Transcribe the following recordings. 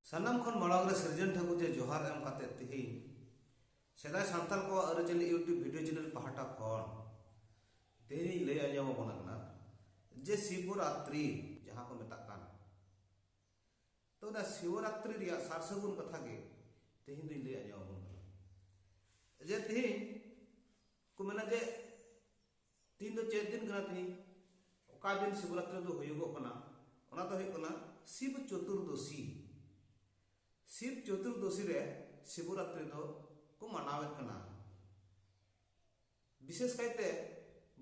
ᱥᱟᱱᱟᱢ ᱠᱷᱚᱱ ᱢᱟᱲᱟᱝ ᱨᱮ ᱥᱤᱨᱡᱚᱱ ᱴᱷᱟᱹᱠᱩᱨ ᱡᱮ ᱡᱚᱦᱟᱨ ᱮᱢ ᱠᱟᱛᱮ ᱛᱮᱦᱮᱧ ᱥᱮᱫᱟᱭ ᱥᱟᱱᱛᱟᱲ ᱠᱚᱣᱟᱜ ᱟᱹᱨᱤᱪᱟᱹᱞᱤ ᱤᱭᱩᱴᱩᱵᱽ ᱵᱷᱤᱰᱤᱭᱳ ᱪᱮᱱᱮᱞ ᱯᱟᱦᱴᱟ ᱠᱷᱚᱱ ᱛᱮᱦᱮᱧ ᱤᱧ ᱞᱟᱹᱭ ᱟᱸᱡᱚᱢ ᱟᱵᱚᱱ ᱠᱟᱱᱟ ᱡᱮ ᱥᱤᱵᱚᱨᱟᱛᱨᱤ ᱡᱟᱦᱟᱸ ᱠᱚ ᱢᱮᱛᱟᱜ ᱠᱟᱱ ᱛᱚ ᱚᱱᱟ ᱥᱤᱵᱚᱨᱟᱛᱨᱤ ᱨᱮᱭᱟᱜ ᱥᱟᱨ ᱥᱟᱹᱜᱩᱱ ᱠᱟᱛᱷᱟ ᱜᱮ ᱛᱮᱦᱮᱧ ᱫᱚᱧ ᱞᱟᱹᱭ ᱟᱸᱡᱚᱢ ᱟᱵᱚᱱ ᱠᱟᱱᱟ ᱡᱮ ᱛᱮᱦᱮᱧ ᱠᱚ ᱢᱮᱱᱟ ᱡᱮ ᱛᱤᱦᱤᱧ ᱫᱚ ᱪᱮᱫ ᱫᱤᱱ ᱠᱟᱱᱟ ᱛᱤᱦᱤᱧ ᱚᱠᱟ ᱫᱤᱱ ᱥᱤᱵᱨᱟᱛᱨᱤ ᱫᱚ ᱦᱩᱭᱩᱜᱚᱜ ᱠᱟᱱᱟ ᱚᱱᱟ ᱫᱚ ᱦᱩᱭᱩᱜ ᱠᱟᱱᱟ ᱥᱤᱵ ᱪᱚᱛᱩᱨᱫᱚᱥᱤ ᱥᱤᱵ ᱪᱚᱛᱩᱨᱫᱚᱥᱤ ᱨᱮ ᱥᱤᱵᱨᱟᱛᱨᱤ ᱫᱚ ᱠᱚ ᱢᱟᱱᱟᱣᱮᱫ ᱠᱟᱱᱟ ᱵᱤᱥᱮᱥ ᱠᱟᱭᱛᱮ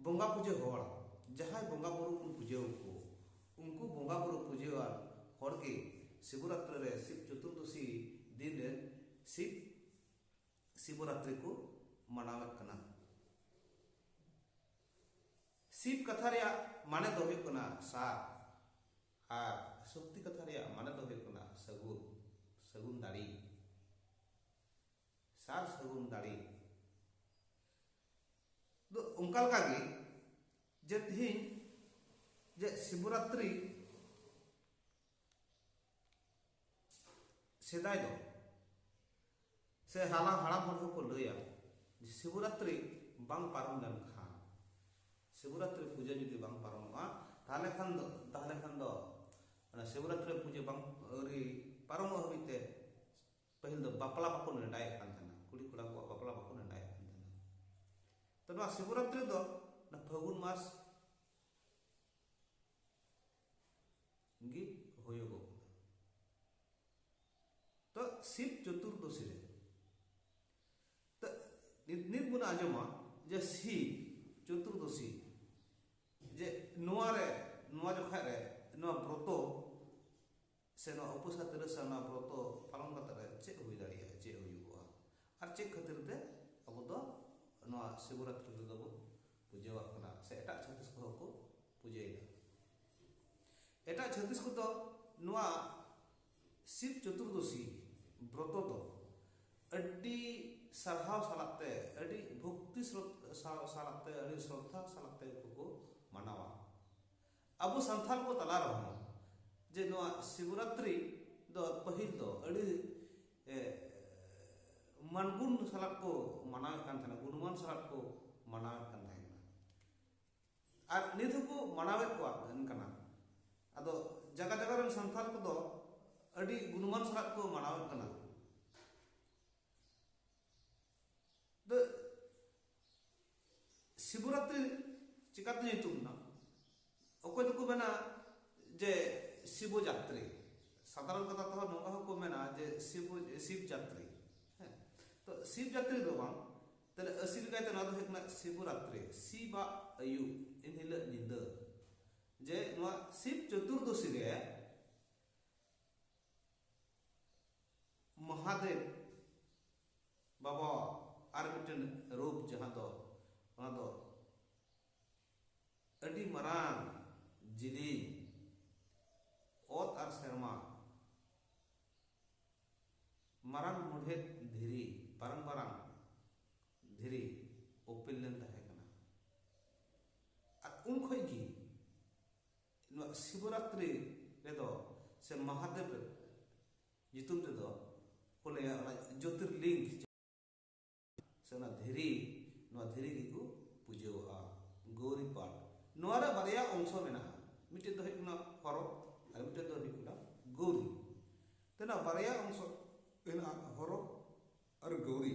ᱵᱚᱸᱜᱟ ᱯᱩᱡᱟᱹ ᱦᱚᱲ ᱡᱟᱦᱟᱸᱭ ᱵᱚᱸᱜᱟ ᱵᱩᱨᱩ ᱵᱚᱱ ᱯᱩᱡᱟᱹ ᱟᱠᱚ ᱩᱱᱠᱩ ᱵᱚᱸᱜᱟ ᱵᱩᱨᱩ ᱯᱩᱡᱟᱹᱣᱟᱱ ᱦᱚᱲ ᱜᱮ ᱥᱤᱵᱨᱟᱛᱨᱤ ᱨᱮ ᱥᱤᱵ ᱪᱚᱛᱩᱨᱫᱚᱥᱤ ᱫᱤᱱ ᱨᱮ ᱥᱤᱵ ᱥᱤᱵᱚᱨᱟᱛᱨᱤ ᱠᱚ ᱢᱟᱱᱟᱣᱮᱫ ᱠᱟᱱᱟ ᱥᱤᱵ ᱠᱟᱛᱷᱟ ᱨᱮᱭᱟᱜ ᱢᱟᱱᱮ ᱫᱚ ᱦᱩᱭᱩᱜ ᱠᱟᱱᱟ ᱥᱟᱨ ᱟᱨ ᱥᱚᱠᱛᱤ ᱠᱟᱛᱷᱟ ᱨᱮᱭᱟᱜ ᱢᱟᱱᱮ ᱫᱚ ᱦᱩᱭᱩᱜ ᱠᱟᱱᱟ ᱥᱟᱹᱜᱩᱱ ᱥᱟᱹᱜᱩᱱ ᱫᱟᱲᱮ ᱥᱟᱨ ᱥᱟᱹᱜᱩᱱ ᱫᱟᱲᱮ ᱫᱚ ᱚᱱᱠᱟ ᱞᱮᱠᱟ ᱜᱮ ᱡᱮ ᱛᱤᱦᱤᱧ ᱡᱮ ᱥᱤᱵᱚᱨᱟᱛᱨᱤ ᱥᱮᱫᱟᱭ ᱫᱚ ᱥᱮ ᱦᱟᱞᱟ ᱦᱟᱲᱟᱢ ᱦᱚᱲ ᱦᱚᱸᱠᱚ ᱞᱟᱹᱭᱟ ᱡᱮ ᱥᱤᱵᱚᱨᱟᱛᱨᱤ ᱵᱟᱝ ᱯᱟᱨᱚᱢ ᱞᱮᱱᱠᱷᱟᱱ ᱥᱤᱵᱚᱨᱟᱛᱨᱤ ᱯᱩᱡᱟᱹ ᱡᱩᱫᱤ ᱵᱟᱝ ᱯᱟᱨᱚᱢᱚᱜᱼᱟ ᱛᱟᱦᱞᱮ ᱠᱷᱟᱱ ᱫᱚ ᱛᱟᱦᱞᱮ ᱠᱷᱟᱱ ᱫᱚ ᱚᱱᱟ ᱥᱤᱵᱚᱨᱟᱛᱨᱤ ᱯᱩᱡᱟᱹ ᱵᱟᱝ ᱟᱹᱣᱨᱤ ᱯᱟᱨᱚᱢᱚᱜ ᱦᱟᱹᱵᱤᱡ ᱛᱮ ᱯᱟᱹᱦᱤᱞ ᱫᱚ ᱵᱟᱯᱞᱟ ᱵᱟᱠᱚ ᱱᱮᱰᱟᱭᱮᱫ ᱠᱟᱱ ᱛᱟᱦᱮᱱᱟ ᱠᱩᱲᱤ ᱠᱚᱲᱟ ᱠᱚᱣᱟᱜ ᱵᱟᱯᱞᱟ ᱵᱟᱠᱚ ᱱᱮᱰᱟᱭᱮᱫ ᱠᱟᱱ ᱛᱟᱦᱮᱱᱟ ᱛᱚ ᱱᱚᱣᱟ ᱥᱤᱵᱚᱨᱟᱛᱨᱤ ᱫᱚ ᱯᱷᱟᱹᱜᱩᱱ ᱢᱟᱥ ᱜᱮ ᱦᱩᱭᱩᱜᱚᱜ ᱠᱟᱱᱟ ᱛᱚ ᱥᱤᱵ ᱪᱚᱛᱩᱨᱫᱚᱥᱤ ᱨᱮ ᱛᱚ ᱱᱤᱛ ᱱᱤᱛ ᱵᱚᱱ ᱟᱸᱡᱚᱢᱟ ᱡᱮ ᱥᱤᱵ ᱪᱚᱛᱩᱨᱫᱚᱥᱤ ᱡᱮ ᱱᱚᱣᱟ ᱨᱮ ᱱᱚᱣᱟ ᱡᱚᱠᱷᱟᱡ ᱨᱮ ᱱᱚᱣᱟ ᱵᱨᱚᱛᱚ ᱥᱮ ᱱᱚᱣᱟ ᱩᱯᱟᱹᱥᱟ ᱛᱤᱨᱟᱹᱥᱟ ᱱᱚᱣᱟ ᱵᱨᱚᱛᱚ ᱯᱟᱞᱚᱱ ᱠᱟᱛᱮ ᱨᱮ ᱪᱮᱫ ᱦᱩᱭ ᱫᱟᱲᱮᱭᱟᱜᱼᱟ ᱪᱮᱫ ᱦᱩᱭᱩᱜᱚᱜᱼᱟ ᱟᱨ ᱪᱮᱫ ᱠᱷᱟᱹᱛᱤᱨ ᱛᱮ ᱟᱵᱚ ᱫᱚ ᱱᱚᱣᱟ ᱥᱤᱵᱚᱨᱟᱛᱨᱤ ᱨᱮᱫᱚ ᱵᱚᱱ ᱯᱩᱡᱟᱹᱣᱟᱜ ᱠᱟᱱᱟ ᱥᱮ ᱮᱴᱟᱜ ᱪᱷᱟᱹᱛᱤᱥ ᱠᱚᱦᱚᱸ ᱠᱚ ᱯᱩᱡᱟᱹᱭᱮᱫᱟ ᱮᱴᱟᱜ ᱪᱷᱟᱹᱛᱤᱥ ᱠᱚᱫᱚ ᱱᱚᱣᱟ ᱥᱤᱵ ᱪᱚᱛᱩᱨᱫᱚᱥᱤ ᱵᱨᱚᱛᱚ ᱫᱚ ᱟᱹᱰᱤ ᱥᱟᱨᱦᱟᱣ ᱥᱟᱞᱟᱜ ᱛᱮ ᱟᱹᱰᱤ ᱵᱷᱚᱠᱛᱤ ᱥᱟᱞᱟᱜ ᱛᱮ ᱟᱹᱰᱤ ᱥᱨᱚᱫᱷᱟ ᱥᱟᱞᱟᱜ ᱛᱮ ᱠᱚ ᱢᱟᱱᱟᱣᱟ ᱟᱵᱚ ᱥᱟᱱᱛᱟᱲ ᱠᱚ ᱛᱟᱞᱟ ᱨᱮᱦᱚᱸ ᱡᱮ ᱱᱚᱣᱟ ᱥᱤᱵᱨᱟᱛᱨᱤ ᱫᱚ ᱯᱟᱹᱦᱤᱞ ᱫᱚ ᱟᱹᱰᱤ ᱢᱟᱱᱜᱩᱱ ᱥᱟᱞᱟᱜ ᱠᱚ ᱢᱟᱱᱟᱣᱮᱫ ᱠᱟᱱ ᱛᱟᱦᱮᱱᱟ ᱜᱩᱱᱢᱟᱱ ᱥᱟᱞᱟᱜ ᱠᱚ ᱢᱟᱱᱟᱣᱮᱫ ᱠᱟᱱ ᱛᱟᱦᱮᱱᱟ ᱟᱨ ᱱᱤᱛ ᱦᱚᱸᱠᱚ ᱢᱟᱱᱟᱣᱮᱫ ᱠᱚᱣᱟ ᱠᱟᱱᱟ ᱟᱫᱚ ᱡᱟᱭᱜᱟ ᱡᱟᱭᱜᱟ ᱨᱮᱱ ᱥᱟᱱᱛᱟᱲ ᱠᱚᱫᱚ ᱟᱹᱰᱤ ᱜᱩᱱᱢᱟᱱ ᱥᱟᱞᱟᱜ ᱠᱚ ᱢᱟᱱᱟᱣᱮᱫ ᱠᱟᱱᱟ ᱥᱤᱵᱩᱨᱟᱛ ᱪᱤᱠᱟᱛᱮ ᱧᱩᱛᱩᱢ ᱮᱱᱟ ᱚᱠᱚᱭ ᱫᱚᱠᱚ ᱢᱮᱱᱟ ᱡᱮ ᱥᱤᱵᱚ ᱡᱟᱛᱨᱤ ᱥᱟᱫᱷᱟᱨᱚᱱ ᱠᱟᱛᱷᱟ ᱛᱮᱦᱚᱸ ᱱᱚᱝᱠᱟ ᱦᱚᱸᱠᱚ ᱢᱮᱱᱟ ᱡᱮ ᱥᱤᱵᱚ ᱥᱤᱵ ᱡᱟᱛᱨᱤ ᱦᱮᱸ ᱛᱚ ᱥᱤᱵ ᱡᱟᱛᱨᱤ ᱫᱚ ᱵᱟᱝ ᱛᱟᱦᱞᱮ ᱟᱹᱥᱤᱞ ᱠᱟᱭᱛᱮ ᱱᱚᱣᱟ ᱫᱚ ᱦᱩᱭᱩᱜ ᱠᱟᱱᱟ ᱥᱤᱵᱚᱨᱟᱛᱨᱤ ᱥᱤᱵᱟᱜ ᱟᱹᱭᱩᱵ ᱮᱱ ᱦᱤᱞᱳᱜ ᱧᱤᱫᱟᱹ ᱡᱮ ᱱᱚᱣᱟ ᱥᱤᱵ ᱪᱚᱛᱩᱨᱫᱚᱥᱤ ᱨᱮ ᱢᱚᱦᱟᱫᱮᱵ ᱵᱟᱵᱟ ᱟᱨ ᱢᱤᱫᱴᱮᱱ ᱨᱩᱯ ᱡᱟᱦᱟᱸ ᱫᱚ ᱚᱱᱟ ᱫᱚ ᱟᱹᱰᱤ ᱢᱟᱨᱟᱝ ᱡᱤᱞᱤᱧ ᱚᱛ ᱟᱨ ᱥᱮᱨᱢᱟ ᱢᱟᱨᱟᱝ ᱢᱩᱰᱷᱮᱫ ᱫᱷᱤᱨᱤ ᱢᱟᱨᱟᱝ ᱢᱟᱨᱟᱝ ᱫᱷᱤᱨᱤ ᱚᱯᱤᱞ ᱞᱮᱱ ᱛᱟᱦᱮᱸ ᱠᱟᱱᱟ ᱟᱨ ᱩᱱ ᱠᱷᱚᱱ ᱜᱮ ᱱᱚᱣᱟ ᱥᱤᱵᱚᱨᱟᱛᱨᱤ ᱨᱮᱫᱚ ᱥᱮ ᱢᱟᱦᱟᱫᱮᱵ ᱧᱩᱛᱩᱢ ᱛᱮᱫᱚ ᱠᱚ ᱞᱟᱹᱭᱟ ᱚᱱᱟ ᱡᱳᱛᱤᱨᱞᱤᱝᱜ ᱥᱮ ᱚᱱᱟ ᱫᱷᱤᱨᱤ ᱱᱚᱣᱟ ᱫᱷᱤᱨᱤ ᱜᱮᱠᱚ ᱯᱩᱡᱟᱹᱣᱟᱜᱼᱟ ᱜᱳᱨᱤ ᱯᱟᱴ ᱱᱚᱣᱟ ᱨᱮ ᱵᱟᱨᱭᱟ ᱚᱝᱥᱚ ᱢᱮᱱᱟᱜᱼᱟ ᱢᱤᱫᱴᱮᱱ ᱫᱚ ᱦᱩᱭᱩᱜ ᱠᱟᱱᱟ ᱦᱚᱨᱚ ᱟᱨ ᱢᱤᱫᱴᱮᱱ ᱫᱚ ᱦᱩᱭᱩᱜ ᱠᱟᱱᱟ ᱜᱳᱨᱤ ᱛᱮ ᱱᱚᱣᱟ ᱵᱟᱨᱭᱟ ᱚᱝᱥᱚ ᱢᱮᱱᱟᱜᱼᱟ ᱦᱚᱨᱚ ᱟᱨ ᱜᱳᱨᱤ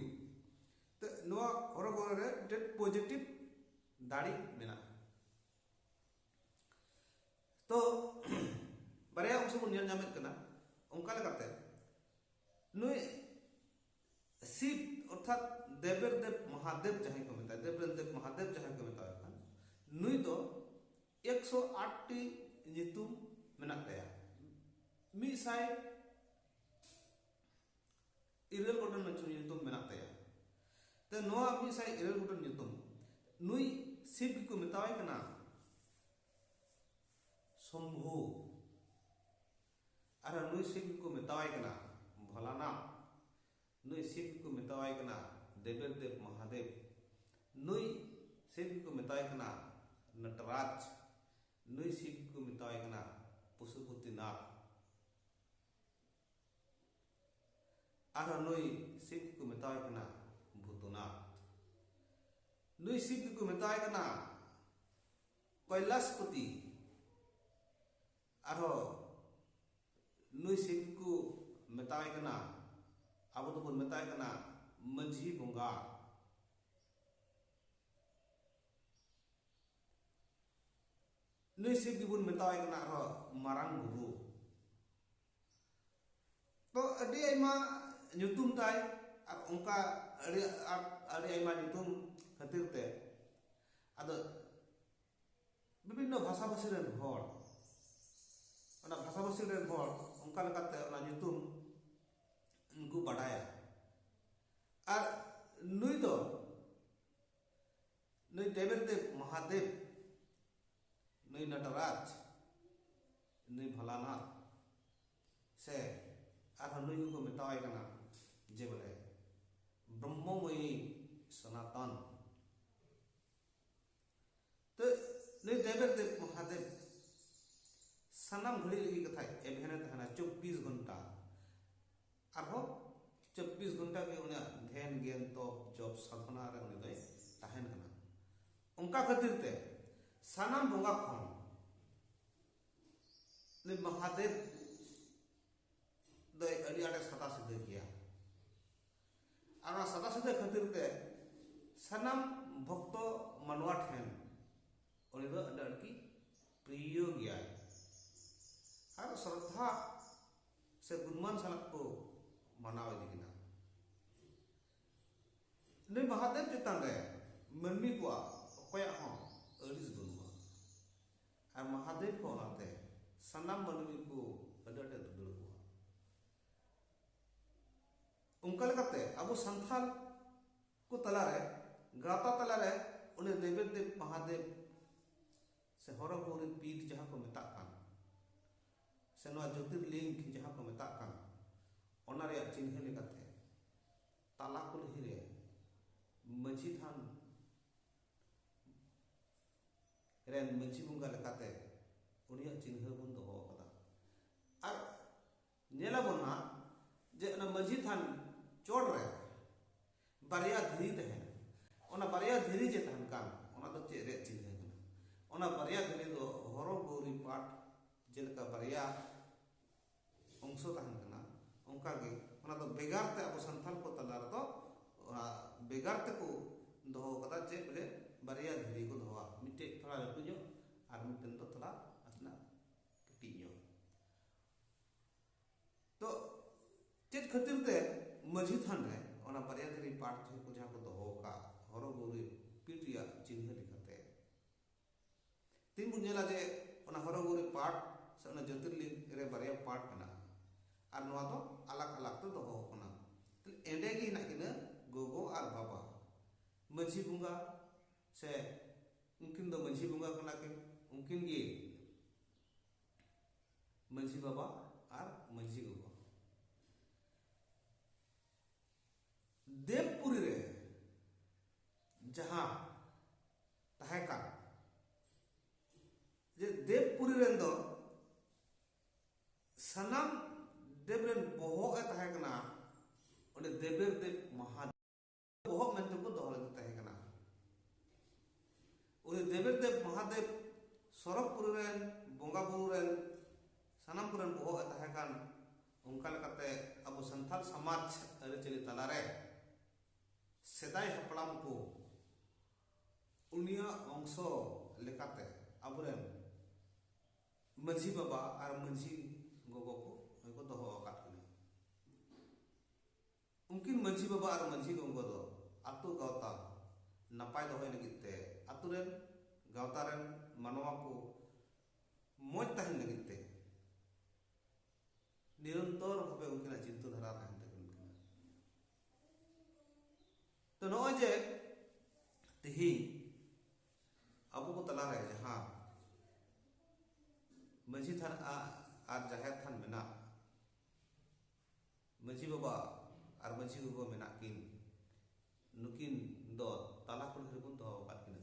ᱛᱮ ᱱᱚᱣᱟ ᱦᱚᱨᱚ ᱜᱳᱨᱤ ᱨᱮ ᱢᱤᱫᱴᱮᱱ ᱯᱚᱡᱮᱴᱤᱵᱷ ᱫᱟᱲᱮ ᱢᱮᱱᱟᱜᱼᱟ ᱛᱚ ᱵᱟᱨᱭᱟ ᱚᱝᱥᱚ ᱵᱚᱱ ᱧᱮᱞ ᱧᱟᱢᱮᱫ ᱠᱟᱱᱟ ᱚᱱᱠᱟ ᱞᱮᱠᱟᱛᱮ ᱱᱩᱭ ᱥᱤᱵ ᱚᱨᱛᱷᱟᱛ ᱫᱮᱵᱮᱨ ᱫᱮᱵ ᱢᱚᱦᱟᱫᱮᱵ ᱡᱟᱦᱟᱸᱭ ᱠᱚ ᱢᱮᱛᱟᱭ ᱫᱮᱵᱮᱨ ᱫᱮᱵ ᱢᱚᱦᱟᱫᱮᱵ ᱡᱟᱦᱟᱸᱭ ᱠᱚ ᱢᱮᱛᱟᱭ ᱠᱟᱱ ᱱᱩᱭ ᱫᱚ ᱮᱠᱥᱚ ᱟᱴ ᱴᱤ ᱧᱩᱛᱩᱢ ᱢᱮᱱᱟᱜ ᱛᱟᱭᱟ ᱢᱤᱫ ᱥᱟᱭ ᱤᱨᱟᱹᱞ ᱜᱚᱴᱟᱝ ᱱᱟᱹᱪᱩᱨ ᱧᱩᱛᱩᱢ ᱢᱮᱱᱟᱜ ᱛᱟᱭᱟ ᱛᱚ ᱱᱚᱣᱟ ᱢᱤᱫ ᱥᱟᱭ ᱤᱨᱟᱹᱞ ᱜᱚᱴᱟᱝ ᱧᱩᱛᱩᱢ ᱱᱩᱭ ᱥᱤᱵ ᱜᱮᱠᱚ ᱢᱮᱛᱟᱣᱟᱭ ᱠᱟᱱᱟ ᱥᱚᱢᱵᱷᱩ ᱟᱨ ᱱᱩᱭ ᱥᱤᱵ ᱜᱮᱠᱚ ᱢᱮᱛᱟᱣᱟᱭ ᱠᱟᱱᱟ ᱵᱷᱚᱞᱟᱱᱟ ᱱᱩᱭ ᱥᱤᱵ ᱜᱮᱠᱚ ᱢᱮᱛᱟᱣᱟᱭ ᱠᱟᱱᱟ ᱫᱮᱵᱮᱨ ᱫᱮᱵ ᱢᱚᱦᱟᱫᱮᱵ ᱱᱩᱭ ᱥᱤᱵ ᱜᱮᱠᱚ ᱢᱮᱛᱟᱣᱟᱭ ᱠᱟᱱᱟ ᱱᱚᱴᱨᱟᱡᱽ ᱱᱩᱭ ᱥᱤᱵ ᱜᱮᱠᱚ ᱢᱮᱛᱟᱣᱟᱭ ᱠᱟᱱᱟ ᱯᱚᱥᱩᱯᱚᱛᱤᱱᱟᱛᱷ ᱟᱨᱦᱚᱸ ᱱᱩᱭ ᱥᱤᱵ ᱜᱮᱠᱚ ᱢᱮᱛᱟᱭ ᱠᱟᱱᱟ ᱵᱷᱩᱛᱩᱱᱟᱛᱷ ᱱᱩᱭ ᱥᱤᱵ ᱜᱮᱠᱚ ᱢᱮᱛᱟᱭ ᱠᱟᱱᱟ ᱠᱚᱭᱞᱟᱥᱯᱚᱛᱤ ᱟᱨᱦᱚᱸ ᱱᱩᱭ ᱥᱤᱵ ᱜᱮᱠᱚ ᱢᱮᱛᱟᱭ ᱠᱟᱱᱟ ᱟᱵᱚ ᱫᱚᱵᱚᱱ ᱢᱮᱛᱟᱭ ᱠᱟᱱᱟ ᱢᱟᱹᱡᱷᱤ ᱵᱚᱸᱜᱟ ᱱᱩᱭ ᱥᱤᱵ ᱜᱮᱵᱚᱱ ᱢᱮᱛᱟᱣᱟᱭ ᱠᱟᱱᱟ ᱟᱨᱦᱚᱸ ᱢᱟᱨᱟᱝ ᱵᱩᱨᱩ ᱛᱚ ᱟᱹᱰᱤ ᱟᱭᱢᱟ ᱧᱩᱛᱩᱢ ᱛᱟᱭ ᱟᱨ ᱚᱱᱠᱟ ᱟᱹᱰᱤ ᱟᱹᱰᱤ ᱟᱭᱢᱟ ᱧᱩᱛᱩᱢ ᱠᱷᱟᱹᱛᱤᱨ ᱛᱮ ᱟᱫᱚ ᱵᱤᱵᱷᱤᱱᱱᱚ ᱵᱷᱟᱥᱟ ᱵᱷᱟᱹᱥᱤ ᱨᱮᱱ ᱦᱚᱲ ᱚᱱᱟ ᱵᱷᱟᱥᱟ ᱵᱷᱟᱹᱥᱤ ᱨᱮᱱ ᱦᱚᱲ ᱚᱱᱠᱟ ᱞᱮᱠᱟᱛᱮ ᱚᱱᱟ ᱧᱩᱛᱩᱢ ᱩᱱᱠᱩ ᱵᱟᱰᱟᱭᱟ ᱟᱨ ᱱᱩᱭ ᱫᱚ ᱱᱩᱭ ᱫᱮᱵᱮᱨ ᱫᱮᱵ ᱢᱚᱦᱟᱫᱮᱵ ᱱᱩᱭ ᱱᱚᱴᱨᱟᱡᱽ ᱱᱩᱭ ᱵᱷᱚᱞᱟᱱᱟ ᱥᱮ ᱟᱨᱦᱚᱸ ᱱᱩᱭ ᱠᱚᱠᱚ ᱢᱮᱛᱟᱣᱟᱭ ᱠᱟᱱᱟ ᱡᱮ ᱵᱚᱞᱮ ᱵᱨᱚᱦᱢᱚᱢᱚᱭᱤ ᱥᱚᱱᱟᱛᱚᱱ ᱛᱚ ᱱᱩᱭ ᱫᱮᱵᱮᱨ ᱫᱮᱵ ᱢᱚᱦᱟᱫᱮᱵ ᱥᱟᱱᱟᱢ ᱜᱷᱟᱹᱲᱤ ᱞᱟᱹᱜᱤᱫ ᱠᱟᱛᱷᱟ ᱮᱵᱷᱮᱱᱮ ᱛᱟᱦᱮᱱᱟ ᱪᱚᱵᱽᱵᱤᱥ ᱜᱷᱚᱱᱴᱟ ᱟᱨᱦᱚᱸ ᱪᱚᱵᱵᱤᱥ ᱜᱷᱚᱱᱴᱟ ᱜᱮ ᱩᱱᱤᱭᱟᱜ ᱫᱷᱮᱱ ᱜᱮᱱ ᱛᱚᱯ ᱡᱚᱯ ᱥᱟᱫᱷᱚᱱᱟ ᱨᱮ ᱩᱱᱤ ᱫᱚᱭ ᱛᱟᱦᱮᱱ ᱠᱟᱱᱟ ᱚᱱᱠᱟ ᱠᱷᱟᱹᱛᱤᱨ ᱛᱮ ᱥᱟᱱᱟᱢ ᱵᱚᱸᱜᱟ ᱠᱷᱚᱱ ᱩᱱᱤ ᱢᱚᱦᱟᱫᱮᱵ ᱫᱚᱭ ᱟᱹᱰᱤ ᱟᱸᱴᱮ ᱥᱟᱫᱟ ᱥᱤᱫᱟᱹ ᱜᱮᱭᱟ ᱟᱨ ᱚᱱᱟ ᱥᱟᱫᱟ ᱥᱤᱫᱟᱹ ᱠᱷᱟᱹᱛᱤᱨ ᱛᱮ ᱥᱟᱱᱟᱢ ᱵᱷᱚᱠᱛᱚ ᱢᱟᱱᱣᱟ ᱴᱷᱮᱱ ᱩᱱᱤ ᱫᱚ ᱟᱹᱰᱤ ᱟᱸᱴ ᱜᱮ ᱯᱨᱤᱭᱚ ᱜᱮᱭᱟᱭ ᱟᱨ ᱥᱨᱚᱫᱷᱟ ᱥᱮ ᱜᱩᱱᱢᱟᱱ ᱥᱟᱞᱟᱜ ᱠᱚ ᱢᱟᱱᱟᱣ ᱤᱫᱤ ᱠᱮᱫᱟ ᱱᱩᱭ ᱢᱟᱦᱟᱫᱮᱵ ᱪᱮᱛᱟᱱ ᱨᱮ ᱢᱟᱹᱱᱢᱤ ᱠᱚᱣᱟᱜ ᱚᱠᱚᱭᱟᱜ ᱦᱚᱸ ᱟᱹᱲᱤᱥ ᱵᱟᱹᱱᱩᱜᱼᱟ ᱟᱨ ᱢᱟᱦᱟᱫᱮᱵ ᱦᱚᱸ ᱚᱱᱟᱛᱮ ᱥᱟᱱᱟᱢ ᱢᱟᱹᱱᱢᱤ ᱠᱚ ᱟᱹᱰᱤ ᱟᱸᱴᱮ ᱫᱩᱞᱟᱹᱲ ᱠᱚᱣᱟ ᱚᱱᱠᱟ ᱞᱮᱠᱟᱛᱮ ᱟᱵᱚ ᱥᱟᱱᱛᱟᱲ ᱠᱚ ᱛᱟᱞᱟᱨᱮ ᱜᱟᱶᱛᱟ ᱛᱟᱞᱟᱨᱮ ᱩᱱᱤ ᱫᱮᱵᱮᱫ ᱫᱮᱵ ᱢᱟᱦᱟᱫᱮᱵ ᱥᱮ ᱦᱚᱨᱚ ᱜᱳᱣᱨᱤ ᱯᱤᱴ ᱡᱟᱦᱟᱸ ᱠᱚ ᱢᱮᱛᱟᱜ ᱠᱟᱱ ᱥᱮ ᱱᱚᱣᱟ ᱡᱳᱛᱤᱨᱞᱤᱝᱜᱽ ᱡᱟᱦᱟᱸ ᱠᱚ ᱢᱮᱛᱟᱜ ᱠᱟᱱ ᱚᱱᱟ ᱨᱮᱭᱟᱜ ᱪᱤᱱᱦᱟᱹ ᱞᱮᱠᱟᱛᱮ ᱛᱟᱞᱟ ᱠᱩᱞᱦᱤ ᱨᱮ ᱢᱟᱹᱡᱷᱤ ᱛᱷᱟᱱ ᱨᱮᱱ ᱢᱟᱹᱡᱷᱤ ᱵᱚᱸᱜᱟ ᱞᱮᱠᱟᱛᱮ ᱩᱱᱤᱭᱟᱜ ᱪᱤᱱᱦᱟᱹ ᱵᱚᱱ ᱫᱚᱦᱚ ᱟᱠᱟᱫᱟ ᱟᱨ ᱧᱮᱞ ᱟᱵᱚᱱ ᱦᱟᱸᱜ ᱡᱮ ᱚᱱᱟ ᱢᱟᱹᱡᱷᱤ ᱛᱷᱟᱱ ᱪᱚᱴ ᱨᱮ ᱵᱟᱨᱭᱟ ᱫᱷᱤᱨᱤ ᱛᱟᱦᱮᱱ ᱚᱱᱟ ᱵᱟᱨᱭᱟ ᱫᱷᱤᱨᱤ ᱡᱮ ᱛᱟᱦᱮᱱ ᱠᱟᱱ ᱚᱱᱟ ᱫᱚ ᱪᱮᱫ ᱨᱮᱭᱟᱜ ᱪᱤᱱᱦᱟᱹ ᱠᱟᱱᱟ ᱚᱱᱟ ᱵᱟᱨᱭᱟ ᱫᱷᱤᱨᱤ ᱫᱚ ᱦᱚᱨᱚ ᱜᱳᱨᱤ ᱯᱟᱴ ᱡᱮᱞᱮᱠᱟ ᱵᱟᱨᱭᱟ ᱚᱝᱥᱚ ᱛᱟᱦᱮᱱ ᱠᱟᱱᱟ ᱚᱱᱠᱟᱜᱮ ᱚᱱᱟ ᱫᱚ ᱵᱷᱮᱜᱟᱨ ᱛᱮ ᱟᱵᱚ ᱥᱟᱱᱛᱟᱲ ᱠᱚ ᱛᱟᱞᱟ ᱨᱮᱫᱚ ᱚᱱᱟ ᱵᱷᱮᱜᱟᱨ ᱛᱮᱠᱚ ᱫᱚᱦᱚ ᱠᱟᱫᱟ ᱪᱮᱫ ᱵᱚᱞᱮ ᱵᱟᱨᱭᱟ ᱫᱷᱤᱨᱤ ᱠᱚ ᱫᱚᱦᱚᱣᱟ ᱢᱤᱫᱴᱮᱡ ᱛᱷᱚᱲᱟ ᱞᱟᱹᱴᱩ ᱧᱚᱜ ᱟᱨ ᱢᱤᱫᱴᱮᱱ ᱫᱚ ᱛᱷᱚᱲᱟ ᱱᱟᱥᱮᱱᱟᱜ ᱠᱟᱹᱴᱤᱡ ᱧᱚᱜ ᱛᱚ ᱪᱮᱫ ᱠᱷᱟᱹᱛᱤᱨ ᱛᱮ ᱢᱟᱹᱡᱷᱤ ᱛᱷᱟᱱ ᱨᱮ ᱚᱱᱟ ᱵᱟᱨᱭᱟ ᱫᱷᱤᱨᱤ ᱯᱟᱴ ᱛᱷᱚᱠ ᱠᱚ ᱡᱟᱦᱟᱸ ᱠᱚ ᱫᱚᱦᱚ ᱟᱠᱟᱫ ᱦᱚᱨᱚ ᱜᱩᱨᱤ ᱯᱤᱴ ᱨᱮᱭᱟᱜ ᱪᱤᱱᱦᱟᱹ ᱞᱮᱠᱟᱛᱮ ᱛᱤᱱ ᱵᱚᱱ ᱧᱮᱞᱟ ᱡᱮ ᱚᱱᱟ ᱦᱚᱨᱚ ᱜᱩᱨᱤ ᱯᱟᱴ ᱥᱮ ᱚᱱᱟ ᱡᱳᱛᱤᱨᱞᱤᱝ ᱨᱮ ᱵᱟᱨᱭᱟ ᱯᱟᱴ ᱢᱮᱱᱟᱜᱼᱟ ᱟᱨ ᱱᱚᱣᱟ ᱫᱚ ᱟᱞᱟᱜ ᱟᱞᱟᱜ ᱛᱮ ᱫᱚᱦᱚ ᱟᱠᱟᱱᱟ ᱛᱟᱦᱞᱮ ᱮᱸᱰᱮ ᱜᱮ ᱦᱮᱱᱟᱜ ᱠᱤᱱᱟᱹ ᱜᱚᱜᱚ ᱟᱨ ᱵᱟᱵᱟ ᱢᱟᱹᱡᱷᱤ ᱵᱚᱸᱜᱟ ᱥᱮ ᱩᱱᱠᱤᱱ ᱫᱚ ᱢᱟᱹᱡᱷᱤ ᱵᱚᱸᱜᱟ ᱠᱟᱱᱟ ᱠᱤᱱ ᱩᱱᱠᱤᱱ ᱜᱮ ᱢᱟᱹᱡᱷᱤ ᱵᱟᱵᱟ ᱟᱨ ᱢᱟᱹᱡᱷᱤ ᱜᱚᱜᱚ ᱫᱮᱵᱽᱯᱩᱨᱤ ᱨᱮ ᱡᱟᱦᱟᱸ ᱛᱟᱦᱮᱸ ᱠᱟᱱ ᱡᱮ ᱫᱮᱵᱽᱯᱩᱨᱤ ᱨᱮᱱ ᱫᱚ ᱥᱟᱱᱟᱢ ᱫᱮᱵᱽ ᱨᱮᱱ ᱵᱚᱦᱚᱜ ᱮ ᱛᱟᱦᱮᱸ ᱠᱟᱱᱟ ᱚᱸᱰᱮ ᱫᱮᱵᱮᱨ ᱫᱮᱵᱽ ᱢᱟᱦᱟ ᱵᱚᱦᱚᱜ ᱢᱮᱱᱛᱮ ᱠᱚ ᱫᱚᱦᱚ ᱞᱮᱫᱮ ᱛᱟᱦᱮᱸ ᱠᱟᱱᱟ ᱩᱱᱤ ᱫᱮᱵᱮᱨ ᱫᱮᱵ ᱢᱚᱦᱟᱫᱮᱵ ᱥᱚᱨᱚᱜᱽᱯᱩᱨᱤ ᱨᱮᱱ ᱵᱚᱸᱜᱟ ᱵᱩᱨᱩ ᱨᱮᱱ ᱥᱟᱱᱟᱢ ᱠᱚᱨᱮᱱ ᱵᱚᱦᱚᱜ ᱮ ᱛᱟᱦᱮᱸ ᱠᱟᱱ ᱚᱱᱠᱟ ᱞᱮᱠᱟᱛᱮ ᱟᱵᱚ ᱥᱟᱱᱛᱟᱲ ᱥᱚᱢᱟᱡᱽ ᱟᱹᱨᱤᱪᱟᱹᱞᱤ ᱛᱟᱞᱟᱨᱮ ᱥᱮᱫᱟᱭ ᱦᱟᱯᱲᱟᱢ ᱠᱚ ᱩᱱᱤᱭᱟᱜ ᱚᱝᱥᱚ ᱞᱮᱠᱟᱛᱮ ᱟᱵᱚᱨᱮᱱ ᱢᱟᱹᱡᱷᱤ ᱵᱟᱵᱟ ᱟᱨ ᱢᱟᱹᱡᱷᱤ ᱜᱚᱜᱚ ᱠᱚ ᱫᱚᱦᱚ ᱟᱠᱟᱫ ᱠᱚᱣᱟ ᱩᱱᱠᱤᱱ ᱢᱟᱹᱡᱷᱤ ᱵᱟᱵᱟ ᱟᱨ ᱢᱟᱹᱡᱷᱤ ᱜᱚᱝᱜᱚ ᱫᱚ ᱟᱹᱛᱩ ᱜᱟᱶᱛᱟ ᱱᱟᱯᱟᱭ ᱫᱚᱦᱚᱭ ᱞᱟᱹᱜᱤᱫ ᱛᱮ ᱟᱹᱛᱩ ᱨᱮᱱ ᱜᱟᱶᱛᱟ ᱨᱮᱱ ᱢᱟᱱᱣᱟ ᱠᱚ ᱢᱚᱡᱽ ᱛᱟᱦᱮᱱ ᱞᱟᱹᱜᱤᱫ ᱛᱮ ᱱᱤᱨᱚᱱᱛᱚᱨ ᱵᱷᱟᱵᱮ ᱩᱱᱠᱤᱱᱟᱜ ᱪᱤᱱᱛᱟᱹ ᱫᱷᱟᱨᱟ ᱛᱟᱦᱮᱱ ᱛᱚ ᱱᱚᱜᱼᱚᱭ ᱡᱮ ᱛᱮᱦᱮᱧ ᱟᱵᱚ ᱠᱚ ᱛᱟᱞᱟᱨᱮ ᱡᱟᱦᱟᱸ ᱢᱟᱹᱡᱷᱤ ᱛᱷᱟᱱ ᱟᱨ ᱡᱟᱦᱮᱨ ᱛᱷᱟᱱ ᱢᱮᱱᱟᱜ ᱢᱟᱹᱡᱷᱤ ᱵᱟᱵᱟ ᱟᱨ ᱢᱟᱹᱡᱷᱤ ᱜᱚᱜᱚ ᱢᱮᱱᱟᱜ ᱠᱤᱱ ᱱᱩᱠᱤᱱ ᱫᱚ ᱛᱟᱞᱟ ᱠᱩᱞᱦᱤ ᱨᱮᱵᱚᱱ ᱫᱚᱦᱚ ᱟᱠᱟᱫ ᱠᱤᱱᱟ